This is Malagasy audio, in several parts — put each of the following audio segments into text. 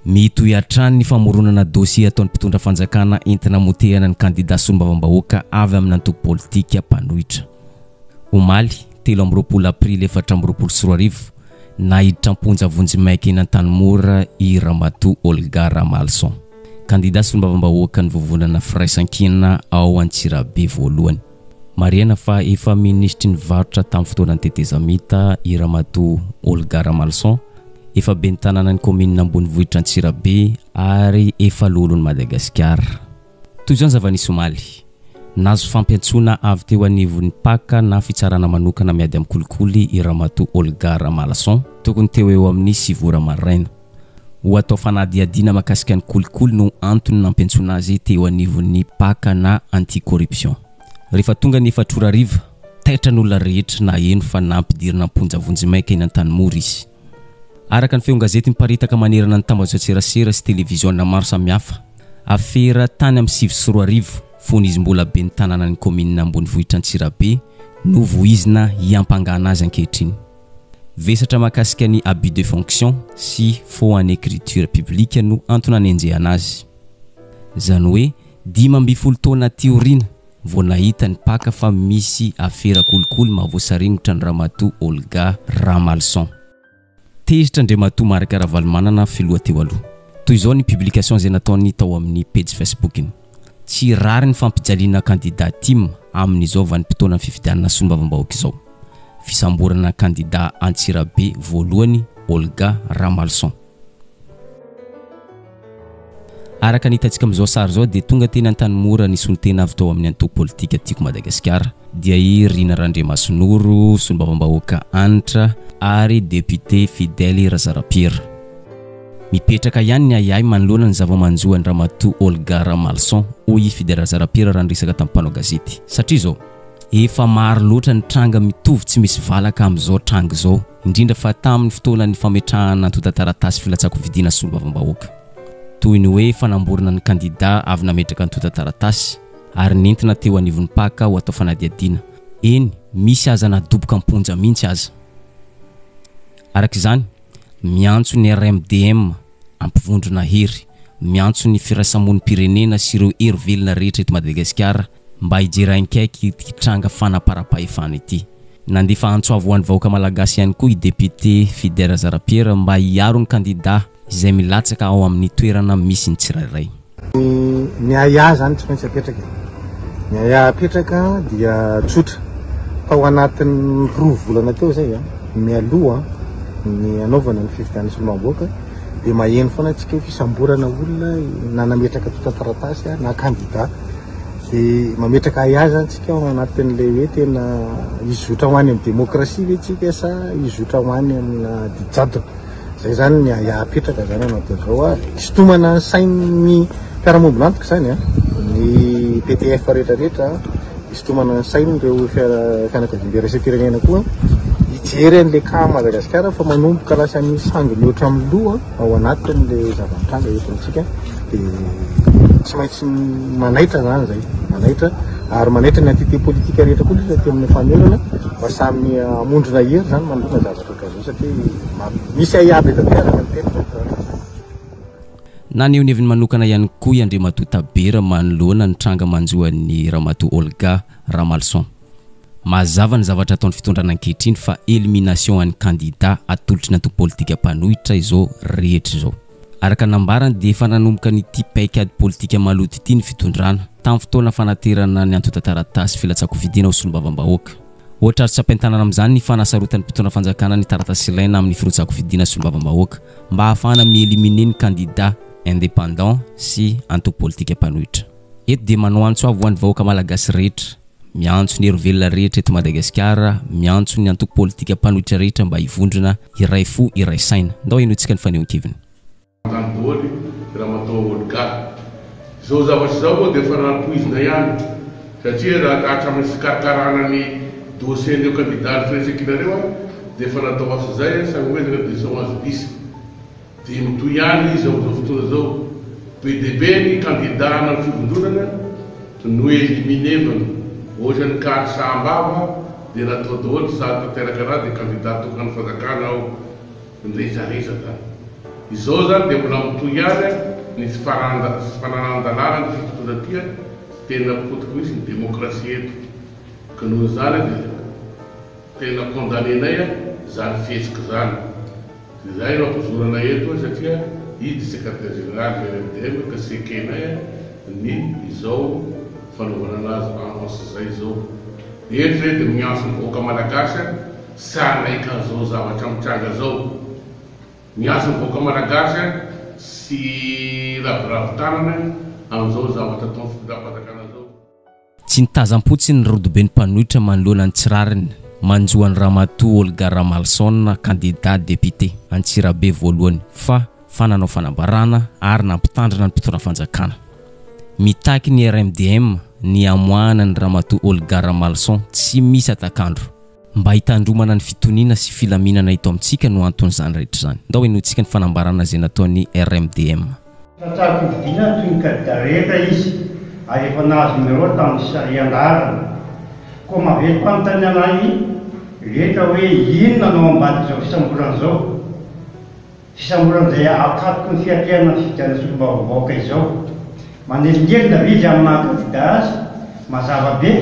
Mitohy hatrany ny famoronana dosie ataon'ny mpitondra fanjakana entina hamotehana ny kandida solombavambahoaka avy amina antoko politika mpanohitra. Omaly, telo amby roapolo aprily efatra amby roapolo sy roa arivo, naiditra am-ponja vonjy maika eny Antanimora i Ramatoa Olga Ramalison, kandida solombavambahoakan'ny Vovonana Firaisankina ao Antsirabe voalohany. Marihana fa efa minisitry ny varotra tamin'ny fotoanan'ny tetezamita i Ramatoa Olga Ramalison, efa ben'ny tanànan'ny kaominina ambonivohitra Antsirabe ary efa loholon'i Madagasikara. Toy izao ny zava-nisy omaly. Nahazo fampiantsoana avy teo anivon'ny Paka na fitsarana manokana miady amin'ny kolikoly i Ramatoa Olga Ramalison, tokony teo ho eo amin'ny sivy ora maraina. Ho atao fanadihadiana mahakasika ny kolikoly no antony nampiantsoana azy teo anivon'ny Paka na Anti-Corruption. Rehefa tonga ny efatra ora hariva, taitra ny olona rehetra naheno fa nampidirina am-ponja vonjimaika eny Antanimora izy. Araka ny feon-gazety miparitaka manerana ny tambajotran-tserasera sy televiziona maro samihafa, afera tany amin'ny sivy sy roa arivo, fony izy mbola ben'ny tanànan'ny kaominina ambonivohitr'Antsirabe, no voizina hiampangana azy ankehitriny. Vesatra mahakasika ny abus de fonction sy faux en écriture publique no antony anenjehana azy. Izany hoe dimy ambin'ny folo taona aty aoriana vao nahita ny mpaka fa misy afera kolikoly mahavoasaringotra ny Ramatoa Olga Ramalison. Tezitra Andriamatoa Marc Ravalomanana filoha teo aloha. Toy izao ny publication izay nataony tao amin'ny pejy Facebook-ny. Tsy rariny fampijaliana kandida tim amin'izao vanim-potoanan'ny fifidianana solombavambahoaka izao. Fisamborana kandida Antsirabe voalohany Olga Ramalison. Araka ny hitantsika amin'izao sary izao dia tonga teny Antanimora ny solontena avy tao amin'ny antoko politika Tiako Madagasikara dia i Rina Randriamasinoro, solombavambahoaka Hanitra ary depiote Fidèle Razarapiera. Mipetraka ihany ny ahiahy manoloana ny zava-manjo an-dRamatoa Olga Ramalison, hoy i Fidèle Razarapiera raha niresaka tamin'ny mpanao gazety. Satria izao, efa maro loatra ny tranga mitovy tsy misy valaka amin'izao tranga izao, indrindra fa tamin'ny fotoanan'ny fametrahana antontan-taratasy filatsahan-kofidiana solombavambahoaka. Toy ny hoe fanamborana ny kandidà avy nametraka antontan-taratasy ary nentina teo anivon'ny mpaka ho atao fanadihadiana. Eny, misy aza nadoboka am-ponja mihitsy aza. Araka izany, Miantso ny RMDM hampivondrona hery, miantso ny firaisamonim-pirenena sy ireo hery velona rehetra eto Madagasikara mba hijery haingaiky ity tranga fanaparam-pahefana ity. Nandefa antso avo ho an'ny vahoaka Malagasy ihany koa i depiote Fidy Razarampiera mba hiaro ny kandida izay milatsaka ao amin'ny toerana misy ny tsirairay. Ny ahiahy izany tsy maintsy apetraka e. Ny ahiahy apetraka dia tsotra. Tao anatin'ny roa volana teo izay a, mialoha ny hanaovana ny fifidianana solombavambahoaka dia maheno foana antsika hoe fisamborana olona na nametraka antontan-taratasy a, na kandida. Dia mametraka ahiahy izany tsika ao anatin'ilay hoe tena hizotra ho any amin'ny demokrasia ve tsika sa hizotra ho any amina ady jadona. Zay zany ny ahiahy apetraka zany anao de zao a sitomana ny sain'ny fiarahamombon'antoka zany a ny PTF rehetra rehetra sitomana ny sain'ireo fianakaviambe raisem-pirenena koa hijery an'le cas Madagasikara fa manomboka lasa ny sangy mihoatra amin'ny loha ao anatin'le zava-mitranga eto amintsika de tsy maintsy manaitra zany zay manaitra ary manaitra ny entité politika rehetra koa lasa aty amin'ny famerana mba samy hamondrona hery zany manoloana zavatra karaha Naneho ny heviny manokana ihany koa i Andriamatoa Tabera manoloana ny tranga manjo an'i Ramatoa Olga Ramalison. Mazava ny zavatra ataon'ny fitondrana ankehitriny fa elimination an'ny kandida atolotr'ny antoko politika mpanohitra izao rehetra izao. Araka ny nambarany dia efa nanomboka an'ity paikady politika maloto ity ny fitondrana, tamin'ny fotoana fanaterana ny antontan-taratasy filatsahan-kofidina ho solombavambahoaka. Ohatra azo tsy ampiantanana amin'izany ny fanasarotan'ny mpitondra fanjakana ny taratasy ilaina amin'ny firotsahan-kofidina solombavambahoaka mba hahafahana mi-éliminer ny kandida indépendant sy antoko politika mpanohitra. Eto dia manao antso avo ho an'ny vahoaka malagasy rehetra. Miantso ny herovelona rehetra eto Madagasikara, miantso ny antoko politika mpanohitra rehetra mba hivondrona iray fo iray saina. Ndao henointsika ny fanehoan-keviny. Mandany bôly ramatoa Olga. Izao zavatra izao moa dia efa nampoizina ihany satria raha ka hatramin'ny fikarakarana ny dossier-n'ireo kandidà ny firaisankinareo ary dia efa natao asa izay ary samy hoezaka dia sao azo diso. Dia mitohy ihany izy amin'izao fotoana izao. Be dia be ny kandidà hanao fivondronana no no-éliminer-vana. Ohatran'ny kary saha am-bava dia natao daholo sady tanteraka ra dia kandidà tokan'ny fanjakana ao. Niresadresaka. Izao izany dia mbola mitohy ihany ny tsy fananan-dalàna ny fitontoana aty. Tena potiky mihitsy ny démocratie eto. Ka noho izany dia tena condamner-nay izany fihetsika izany. Izay no ampozorana eto a satria izy dia secretaire général de l'MDM ka tsy ekenay ny izao fanaovana anazy annonce izay izao. Eto izay dia miantso ny vahoaka malagasy a tsy hanaiky an'izao zavatra mitranga izao. Miantso ny vahoaka malagasy a tsy hiraviravy tanana amin'izao zavatra ataon'ny fitondrapanjakana izao. Tsy nitazam-potsiny ny rodoben'ny mpanohitra manoloana ny tsy rariny manjo an'i Ramatoa Olga Ramalison, kandida depiote Antsirabe voalohany, fa fa nanao fanambarana ary nampitandrina ny mpitondra fanjakana. Mitaky ny RMDM ny hamoahana an'i Ramatoa Olga Ramalison tsy misy hatak'andro. Mba hitandromana ny fitoniana sy filaminana eto amintsika no anton'izany rehetra izany. Ndao henointsika ny fanambarana izay nataon'ny RMDM. Tratran'ny fifidianana toy ny kandida rehetra izy ary efa nahazo numéro tamin'ny sarian-daharana. Koa mahavelom-panontaniana ahy rehetra hoe inona no ao ambadik'izao fisamborana izao? Fisamboran'izay ankatoky ny fiatrehana ny fifidianana solombavambahoaka izao. Manelingelina ve izy amin'ny maha kandida azy? Mazava be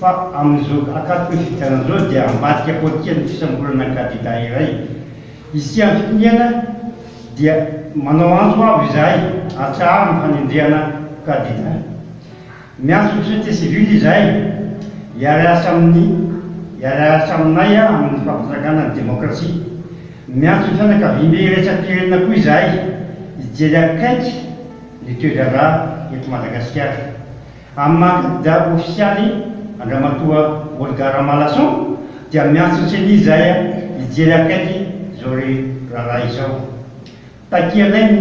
fa amin'izao ankatoky ny fifidianana izao dia ambadika politika ny fisamborana ny kandida iray. Hisian'ny fitoniana dia manao antso avo izahay, atsaharo ny fanendrehana kandida. Miantso ny société civile izahay hiara-hiasa amin'ny hiara-hiasa aminay amin'ny fampitrangana ny demokrasia. Miantso ny fianakaviambe iraisam-pirenena koa izahay hijery akaiky ny toe-draharaha eto Madagasikara. Amin'ny maha kandida ofisialy Andramatoa Olga Ramalason dia miantso ny ceni izahay hijery akaiky izao raharaha izao. Takianay ny.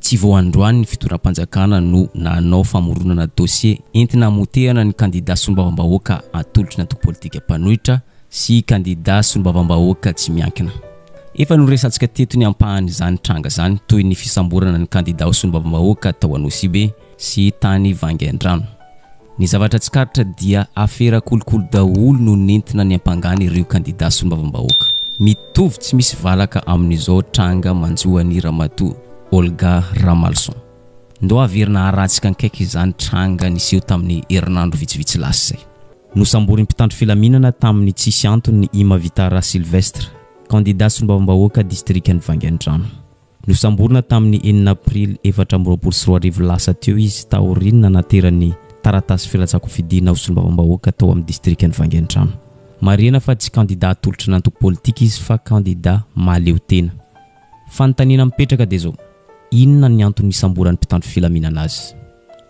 Tsy vao androany ny fitondram-panjakana no nanao famoronana dosie entina hamotehana ny kandida solombavambahoaka atolotry ny antoko politika mpanohitra sy kandida solombavambahoaka tsy miankina. Efa noresantsika teto ny ampahan'izany tranga izany toy ny fisamborana ny kandida ho solombavambahoaka tao Anosibe sy tany Vangaindrano. Ny zavatra tsikaritra dia afera kolikoly daholo no nentina niampangana ireo kandida solombavambahoaka. Mitovy tsy misy valaka amin'izao tranga manjo an'i Ramatoa Olga Ramalison. Ndao averina haratsika ankaiky izany tranga niseho tamin'ny herinandro vitsivitsy lasa izay. Nosamborin'ny mpitandro filaminana tamin'ny tsisy antony i Mavitara Sylvestre, kandida solombavambahoaka distrikan'i Vangaindrano. Nosamborina tamin'ny enina Aprily efatra amby roapolo sy roa arivo lasa teo izy taorian'ny nanaterany taratasy filatsahan-kofidina ho solombavambahoaka tao amin'ny distrikan'i Vangaintrano. Marihana fa tsy kandidà atolotry ny antoko politika izy fa kandidà mahaleo tena. Fanontaniana mipetraka dia izao, inona ny antony nisamboran'ny mpitandro filaminana azy?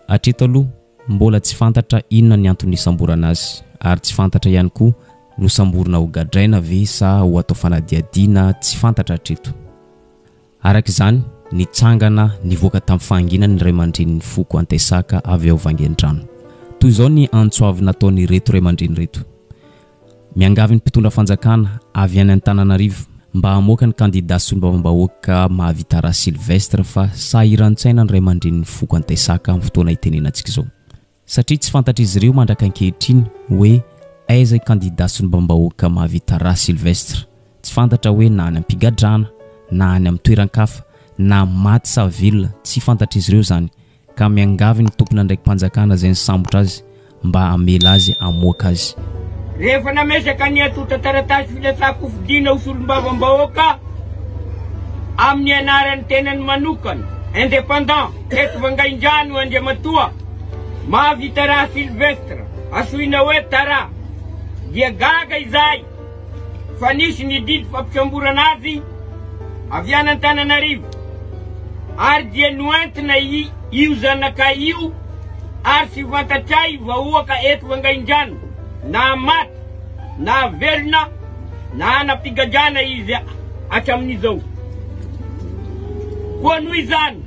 Hatreto aloha, mbola tsy fantatra inona ny antony nisamborana azy ary tsy fantatra ihany koa, nosamborina ho gadraina ve sa ho atao fanadihadiana, tsy fantatra hatreto. Araka izany, nitsangana nivoaka tamin'ny fahanginana ny ray aman-drenin'ny foko Antesaka avy ao Vangaindrano. Toy izao ny antso avy nataon'ireto ray aman-dreny ireto, Miangavy ny mpitondra fanjakana avy any Antananarivo mba hamoaka ny kandida solombavambahoaka Mahavitaraha Sylvestre fa sahiran-tsaina ny ray aman-drenin'ny foko Antesaka amin'ny fotoana itenenantsika izao. satria tsy fantatr'izy ireo mandraka ankehitriny hoe aiza i kandida solombambahoaka Mahavita Ra Sylvestre, tsy fantatra hoe na any am-pigadrana na any amin'ny toeran-kafa na maty sa velona tsy fantatr'izy ireo izany ka miangavy ny tompon'andraiki-panjakana izay nisambotra azy mba hamela azy hamoaka azy. Rehefa nametraka ny antontan-taratasy filatsahan-kofidina ho solombavambahoaka amin'ny anaran'ny tenany manokana, indépendant, Teto Vangaindrano Andriamatoa Mahavitaraha Sylvestre, asoina hoe Tara, dia gaga izahay fa nisy ny didy fampisamborana azy avy any Antananarivo ary dia noentina io zanakay io ary tsy fantatray vahoaka eto Vangaindrano na maty na velona na ana-pigadrana izy hatramin'izao. Koa noho izany.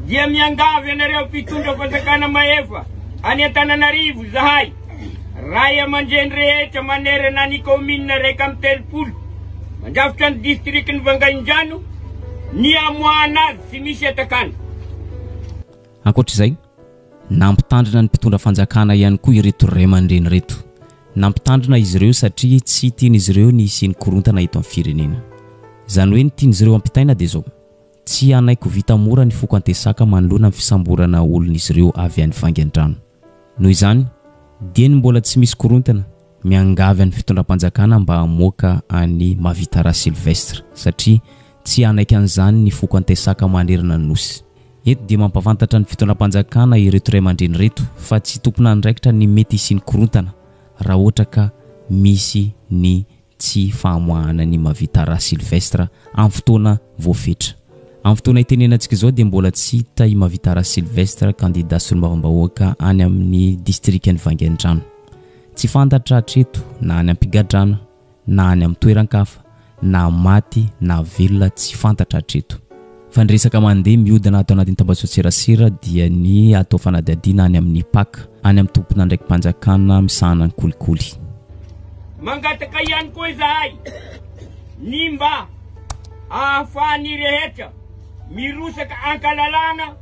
dia miangavy anareo mpitondra fanjakana mahefa any Antananarivo izahay, ray aman-dreny rehetra manerana ny kaominina iraika amby telopolo mandrafitra ny distrikan'i Vangaindrano ny hamoahana azy tsy misy atakana. Ankoatra izay, nampitandrina ny mpitondra fanjakana ihany koa ireto ray aman-dreny ireto. Nampitandrina izy ireo satria tsy tian'izy ireo ny hisian'ny korontana eto amin'ny firenena. Izany hoe ny tian'izy ireo hampitaina dia izao, Tsy hanaiky ho vita mora ny foko Antesaka manoloana ny fisamborana olon'izy ireo avy any Vangaindrano. Noho izany, dieny mbola tsy misy korontana, miangavy an'ny fitondram-panjakana mba hamoaka an'i Mavitara Sylvestre satria tsy hanaiky an'izany ny foko Antesaka manerana ny Nosy. Eto dia mampahafantatra ny fitondram-panjakana ireto ray aman-dreny ireto fa tsy tompon'andraikitra ny mety hisian'ny korontana raha ohatra ka misy ny tsy fahamoahana an'i Mavita Ra Sylvestre amin'ny fotoana voafetra. Amin'ny fotoana itenenantsika izao dia mbola tsy hita i Mavita Ra Sylvestre, kandida solombavambahoaka any amin'ny distrikan'i Vangaindrano. Tsy fantatra hatreto na any am-pigadrana na any amin'ny toeran-kafa na maty na velona tsy fantatra hatreto. Fa ny resaka mandeha mihodina ato anatin'ny tambajotran-tserasera dia ny atao fanadihadiana any amin'ny pac, any amin'ny tompon'andraiki-panjakana misahana ny kolikoly. Mangataka ihany koa izahay ny mba ahafahan'ny rehetra mirosaka an-kalalahana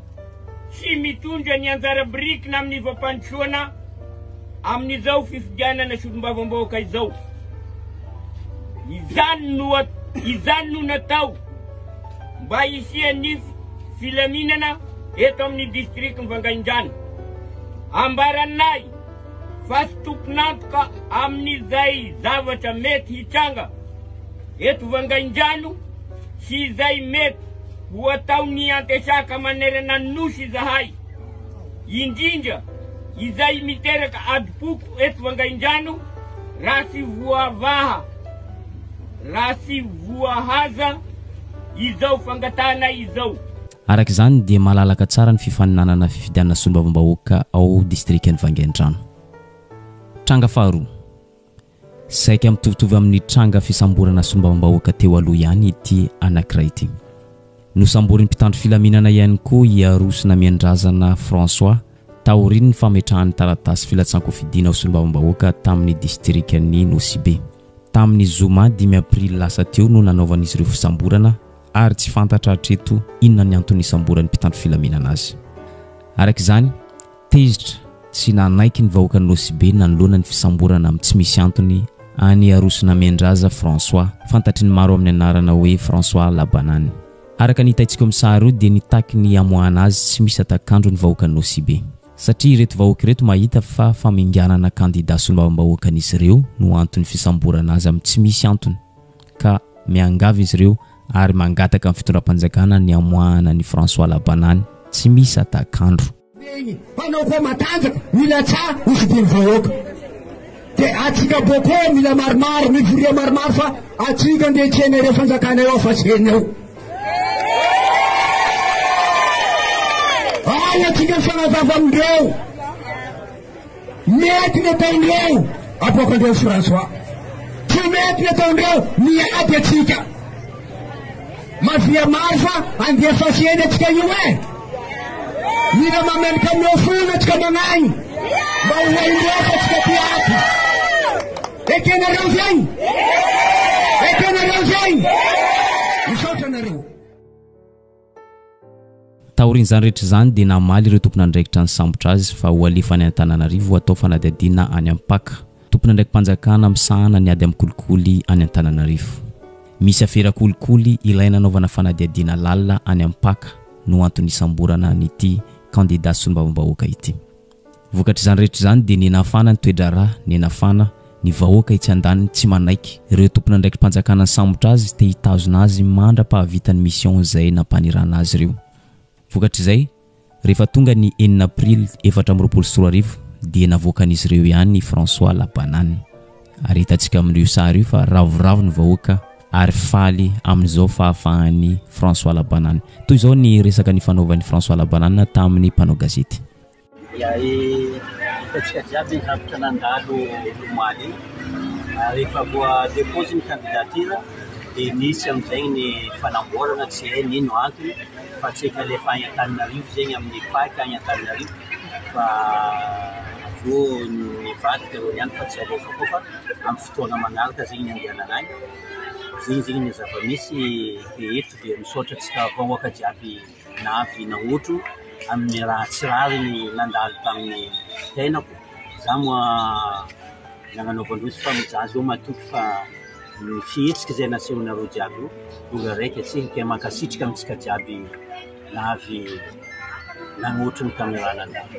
sy mitondra ny anjara birikiny amin'ny fampandrosoana amin'izao fifidianana solombavambahoaka izao. Izany no izany no natao. mba hisian'ny filaminana eto amin'ny distrikan'i Vangaindrano. Ambaran'i Nahy fa tsy tompon'antoka amin'izay zavatra mety hitranga eto Vangaindrano sy izay mety ho ataon'ny antesaka manerana ny Nosy izahay, indrindra izay miteraka adim-poko eto Vangaindrano raha tsy voavaha. raha tsy voahaja izao fangatahana izao. Araka izany dia malalaka tsara ny fifaninanana fifidianana solombavambahoaka ao distrikan'i Vangaindrano. Tranga faharoa. Saika mitovitovy amin'ny tranga fisamborana solombavambahoaka teo aloha ihany ity anankiray ity. Nosamborin'ny mpitandro filaminana ihany koa i Aroso Namianindrazana François taorian'ny fametrahany taratasy filatsan-kofidiana ho solombavambahoaka tamin'ny distrikan'i Nosy-Be. Tamin'ny zoma dimy aprily lasa teo no nanaovan'izy ireo fisamborana ary tsy fantatra hatreto inona ny antony nisamboran'ny mpitandro filaminana azy. Araka izany, tezitra sy nanaiky ny vahoakan'i Nosy Be nanoloana ny fisamborana amin'ny tsy misy antony an'i Arosonamendraza François, fantatry ny maro amin'ny anarana hoe François Labanany. Araka ny hitaintsika eo amin'ny sary eo dia nitaky ny hamoahana azy tsy misy hatak'andro ny vahoakan'i Nosy Be. satria ireto vahoaka ireto mahita fa faminganana kandida solombavambahoakan'izy ireo no anton'ny fisamborana azy amin'ny tsy misy antony ka miangavy izy ireo ary mangataka ny fitondram-panjakana ny hamoahana an'i François Labanany tsy misy atak'andro. Ny ainy, hanao koa matanjaka, milatsaha, hosidian'ny vahoaka. Dia atsika boko mila maromaro mivoria maromaro fa atsika ndeha tsena ireo fanjakana eo fa tsy heny eo. Ary atsika mifanazava amindreo. Mety ny ataondreo aboakandreo François. Tsy mety ny ataondreo miady atsika. Mafia maro fa handefa fiaina atsika io eh! Mila mameloka amin'ireo fony atsika magnahy mba ho hain-drehetra atsika ty ato. Ekenareo zay? Ekenareo zay? Misaotra anareo. Taorian'izany rehetra izany dia namaly ireo tompon'andraikitra nisambotra azy fa ho alefa any Antananarivo ho atao fanadihadiana any Ampaka, tompon'andraiki-panjakana misahana ny ady amin'ny kolikoly any Antananarivo. Misy afera kolikoly ilaina anaovana fanadihadiana lalina any Ampaka no antony nisamborana an'ity kandida solombavambahoaka ity. Vokatr'izany rehetra izany dia nienafana ny toe-draharaha, nienafana ny vahoaka etsy andaniny tsy manaiky ireo tompon'andraiki-panjakana nisambotra azy te hitazona azy mandra-pahavita ny mission izay nampanirahana azy ireo. Vokatr'izay, rehefa tonga ny enina aprily efatra amby roapolo sy roa arivo dia navoakan'izy ireo ihany i François la banane. Ary hitantsika amin'io sary io fa ravoravo ny vahoaka ary faly amin'izao fahafahan'i François la banane. Toy izao ny resaka nifanaovan'i François la banane tamin'ny mpanao gazety. Hitantsika jiaby ny zavatra nandalo omaly iny. Rehefa voa-depose ny candidature dia nisy amin'izay ny fanamboarana, tsy hay ny ino antony fa tsy efa alefa any Antananarivo izay amin'ny pac any Antananarivo fa avy eo nivadika ireo ihany fa tsy alefa koa fa amin'ny fotoana manaraka izay ny handehanana any. Izay izay ny zava-misy dia eto dia misaotra antsika vahoaka jiaby. na avy nahoatro amin'ny raha tsy rariny nandalo tamin'ny tenako. Izaho moa na nanaovan-droa fa mijaly eo matoky fa ny fihetsika izay nasehonareo jiaby io tonga raika tsy hita. Mankasitraka antsika jiaby na avy nagnotry ny kamerà nandalo.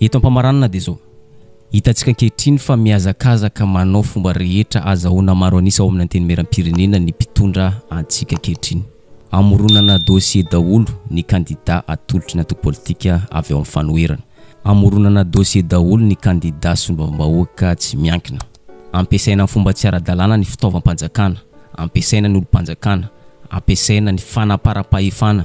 Eto am-pamaranana dia izao, hitantsika ankehitriny fa mihazakazaka manao fomba rehetra azahoana maro an'isa ao amin'ny Antenimierampirenena ny mpitondra antsika ankehitriny. Amoronana dossier daholo ny kandida atolotry ny antoko politika avy ao amin'ny fanoherana. Amoronana dossier daholo ny kandida solombavambahoaka tsy miankina. Ampiasaina amin'ny fomba tsy ara-dalàna ny fitaovam-panjakana, ampiasaina ny olom-panjakana, ampiasaina ny fanaparam-pahefana,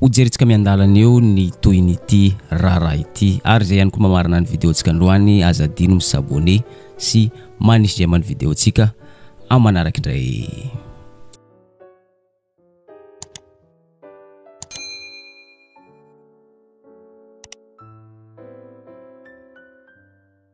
Hojerintsika miandalana eo ny tohin'ity raharaha ity ary izay ihany koa mamarana ny video-ntsika androany aza adino mi s'abonner sy manisy j'aime ny video-ntsika amin'ny manaraka indray.